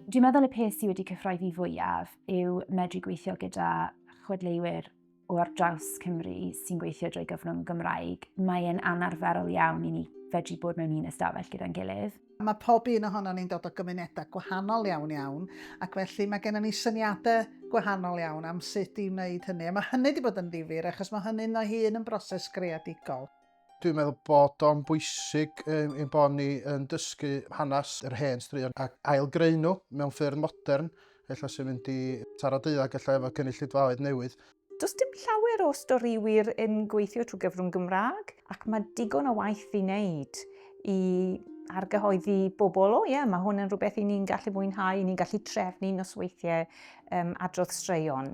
Dwi'n meddwl y peth sydd wedi cyffroi fi fwyaf yw medru gweithio gyda chwedleiwyr o ar draws Cymru sy'n gweithio drwy gyfrwng Gymraeg, mae'n anarferol iawn i ni fedru bod mewn un ystafell gyda'n gilydd. Mae pob un ohonon ni'n dod o gymunedau gwahanol iawn iawn, ac felly mae gennym ni syniadau gwahanol iawn am sut i wneud hynny, a mae hynny wedi bod yn ddifyr achos mae hynny'n ei hun yn broses greadigol. Dwi'n meddwl bod o'n bwysig um, ein bod ni yn dysgu hanes yr hen straeon ac ailgreu nhw mewn ffyrdd modern, efallai sy'n mynd i taro deuddag efallai efo cynulleidfaoedd newydd. Does dim llawer o storiwyr yn gweithio trwy gyfrwng Gymraeg ac mae digon o waith i wneud i argyhoeddi bobl, o ie, yeah, mae hwn yn rhywbeth i ni'n gallu fwynhau, i ni'n gallu trefnu nosweithiau um, adrodd straeon.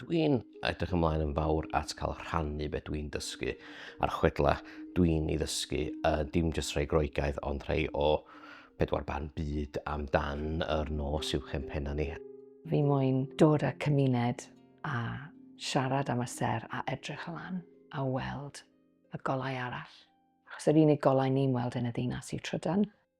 Dwi'n edrych ymlaen yn fawr at cael rhannu beth dwi'n dysgu a'r chwedla dwi'n ei ddysgu, uh, dim jyst rhai groegaidd ond rhai o pedwar barn byd amdan yr nos i'w chempenna ni. Fi moyn dod â cymuned a siarad am y ser a edrych lan a weld y golau arall. Achos yr unig golau ni'n weld yn y ddinas yw trydan.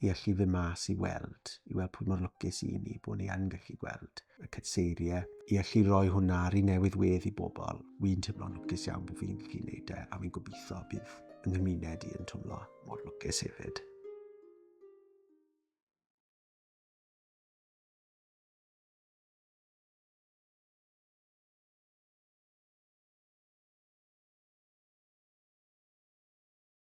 i allu fyn mas i weld, i weld pwy mor lwcus i ni bod ni yn gallu gweld y cytseiriau, i allu rhoi hwnna ar ei newydd wedd i bobl. Wi'n teimlo'n lwcus iawn bod fi'n gallu gwneud e, a fi'n gobeithio bydd yng nghymuned i yn twmlo mor lwcus hefyd.